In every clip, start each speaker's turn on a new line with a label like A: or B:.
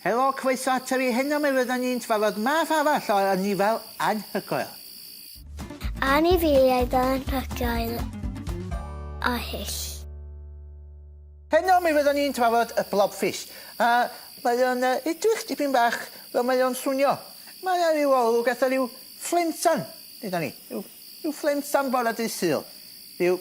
A: Helo, croeso ato fi, heno mi fyddan ni'n trafod math arall o anifail anhygoel. Anifeiliaid
B: anhygoel a hyll.
A: Heno mi fyddan ni'n trafod y blobfish, a mae o'n yy edrych dipyn bach fel mae o'n swnio. Mae yna ryw olwg fatha ryw fflemsan gyda ni, ryw ryw fflemsan bore dydd Sul, ryw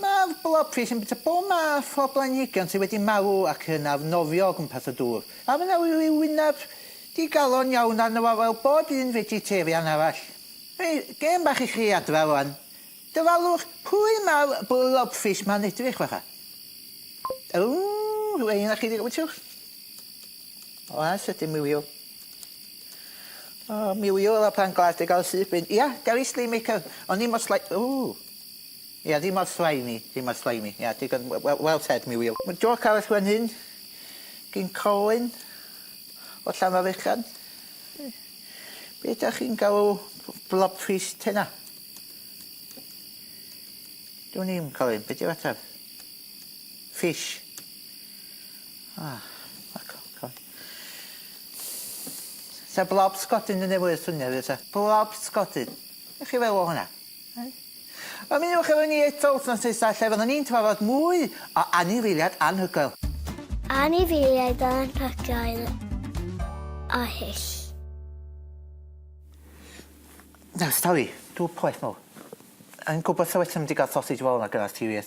A: Mae'r blobfis yn bwyta bob math o blanhigion sydd wedi marw ac yn arnofio o gwmpas y dŵr. A mae 'na ryw wyneb digalon iawn arno fo fel bob un fegetarian arall. Hei, gêm bach i chi adra rwan. Dyfalwch pwy mae'r blobfis 'ma'n edrych fatha. Ww, rhywle un a chi ddi- wytsiwch. Oes, ydyn, miliw. O, miliw efo pan glas di gael syth bin. Ia, Gary Sleemaker. O'n i mor sly- ww. Ia, ddim mor slimy, ddim mor slimy. Ia, digon, we- well said, mi Wil. Ma' jôc arall fan hyn gin Colin o Llanfairfechan. Be' 'dach chi'n galw blobfish tena? Dwn i'm, Colin, be' 'di'r ateb? Fish. Ah, ac o, co- Sa blob sgodyn yn neu' fwy o syniad fysa? Blob sgodyn. Be' chi feddwl o hwnna? Ymunwch efo ni eto wythnos nesa lle fyddwn ni'n trafod mwy o anifeiliaid anhygoel. Anifeiliaid
B: anhygoel a hyll.
A: Nawr stori, dw poeth mowr. Yn gwbod sa well 'se mynd i ga'l sausage roll na gyda ti wir.